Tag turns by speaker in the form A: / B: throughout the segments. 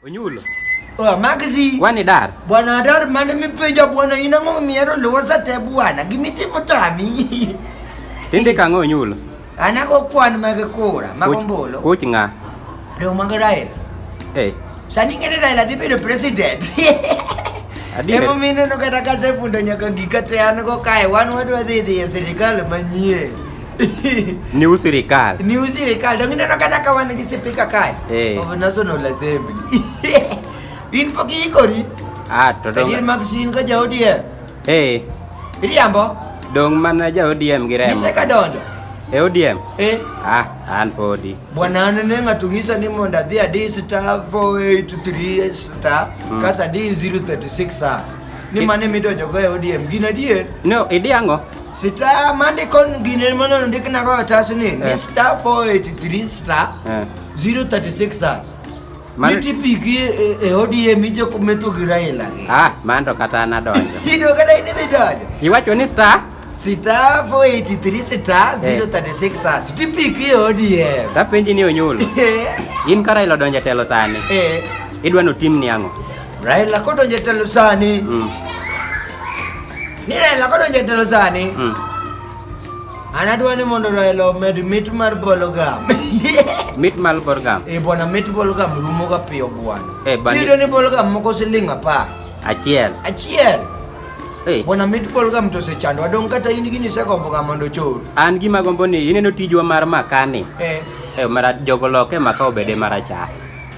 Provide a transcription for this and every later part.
A: Onyulo. Oh, Magzi.
B: Wani dar.
A: Bwana dar mane
B: mipenja bwana ina ng'o miero losa te bwana. Gimitimo tami. Tinde
A: ka ng'o onyulo. Ana go kwan
B: mag kura, mag ombolo. Kuch ng'a.
A: Dong mag
B: Raila. Eh.
A: Sani ngene Raila
B: dhi bedo president. Emo mine no kata kasefundo nyaka gika te an go kae wan wadwa dhi dhi e sirikal manyien.
A: New Sirikal. New Sirikal. Dong
B: ina nakata kawa nigi sipika kai. Eh. Of National Assembly. In po kiikori. Ah, to dong. Kadir
A: Maxine ka ja
B: ODM. Eh. Iriambo. Dong
A: mana ja ODM gi remo. Ise ka donjo.
B: E ODM?
A: Eh. Ah, an podi. Bwana anene
B: ngatungisa ni monda dhia D star 483 star. Mm. Kasa D 036 sasa. Ni mane midonjo go e ODM. Gina dier. No, idi ango?
A: Star mande
B: kon gine mono ndik na go tas ni ni eh. star 483 star 036 eh. as. Man... Miti pigi e, e odi e mijo kumetu gira e lagi. Ah, mando kata
A: na donjo. Ido kata ini di
B: donjo. Iwacho ni star?
A: Star 483
B: star 036 as. Miti pigi e odi e. Ta penji ni onyulo.
A: In kara ilo donjo telo sani. Eh. Idwa no tim ni ango. Raila kodonjo
B: telo sani. Mm. Ni Raila koro jatelo sani. Mm. An adwa ni mondo Raila omed mit mar bologam. Mit
A: mar bologam. Eh bwana mit bologam
B: rumo ga piyo bwana. Eh bwana. Tiyudo ni bologam
A: moko
B: siling' apar. Achiel. Achiel. Hey. Eh. Bwana mit bologam to osechandwa dong' kata in gini isegomboga mondo ochor. An gima gombo ni
A: ineno tijwa mar makani. Eh. Eh mara jogo loke maka obede marachar.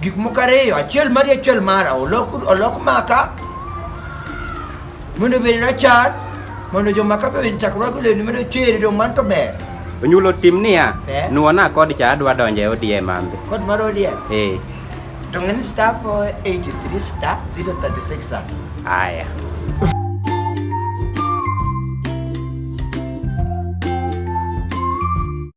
B: Gik moko ariyo, achiel mari achiel mara, olok, olok maka mondo obed rachar mondo jomaka be oyud chakruok olewni mondo ochere dong' man to ber. Onyulo tim
A: niya, Eh. nuona kod cha adwa donjo e ODM ambe. Kod mar ODM,
B: Eh, to ng'ani star 483 star 036 as. haya.